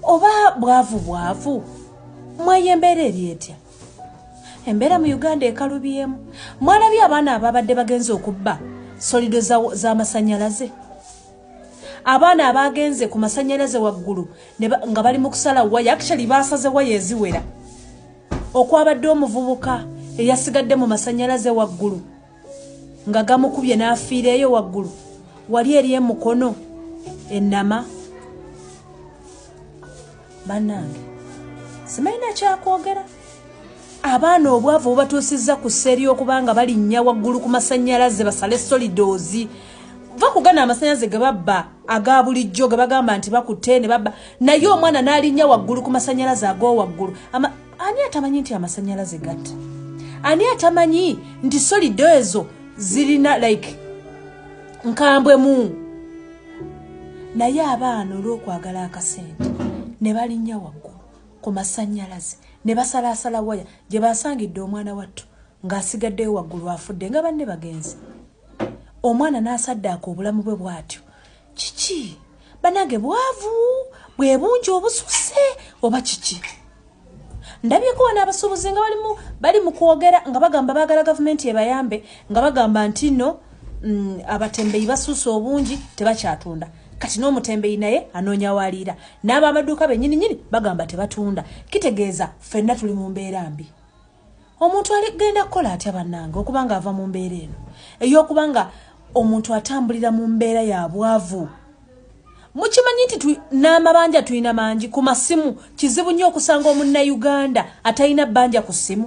oba bwavu bwavu mwayo embeera eri etya embeera mu uganda ekalubyemu mwalabye abaana ababadde bagenze okubba solido z'amasanyalaze za abaana abaagenze ku masanyalaze waggulu nga bali mu kusala waya actually baasaze waya eziwera okwabadde omuvubuka eyasigadde mu masanyalaze waggulu nga gamukubye n'afiira eyo waggulu wali eri emukono ennama bannange simalina kyakwogera abaana obwavu bubatuusizza ku seeri okuba nga balinnya waggulu ku masannyalaze basale solidoozi va kugana amasannyalaze ge babba aga bulijjo ge bagamba nti bakutte ne babba naye omwana n'alinnya waggulu ku masannyalaze ag'owaggulu ani atamanyi nti amasanyalaze gatta ani atamanyi nti solido ezo zirina like nkambwe mu naye abaana olwokwagala akasente ne balinnya waggulu ku masanyalaze ne basalaasala waya gye basangidde omwana wattu ng'asigaddeyo waggulu afudde nga banne bagenzi omwana n'asaddaaka obulamu bwe bw'atyo kiki banange bwavu bwe bungi obususe oba kiki ndabyeko wana abasuubuzi nga balimu bali mu kwogera nga bagamba bagala gavumenti ebayambe nga bagamba nti no mm, abatembeyi basuuse obungi tebakyatunda kati n'omutembeyi naye anoonya waliira n'abamaduuka bennyini nyini bagamba tebatunda kitegeeza ffenna tuli mu mbeera mbi omuntu ali genda kukola atya bannange okuba nga ava mu mbeera eno ey'okuba nga omuntu atambulira mu mbeera ya bwavu mukimanyi nti n'amabanja tulina mangi ku masimu kizibu nnyo okusanga omunnayuganda atalina bbanja ku ssimu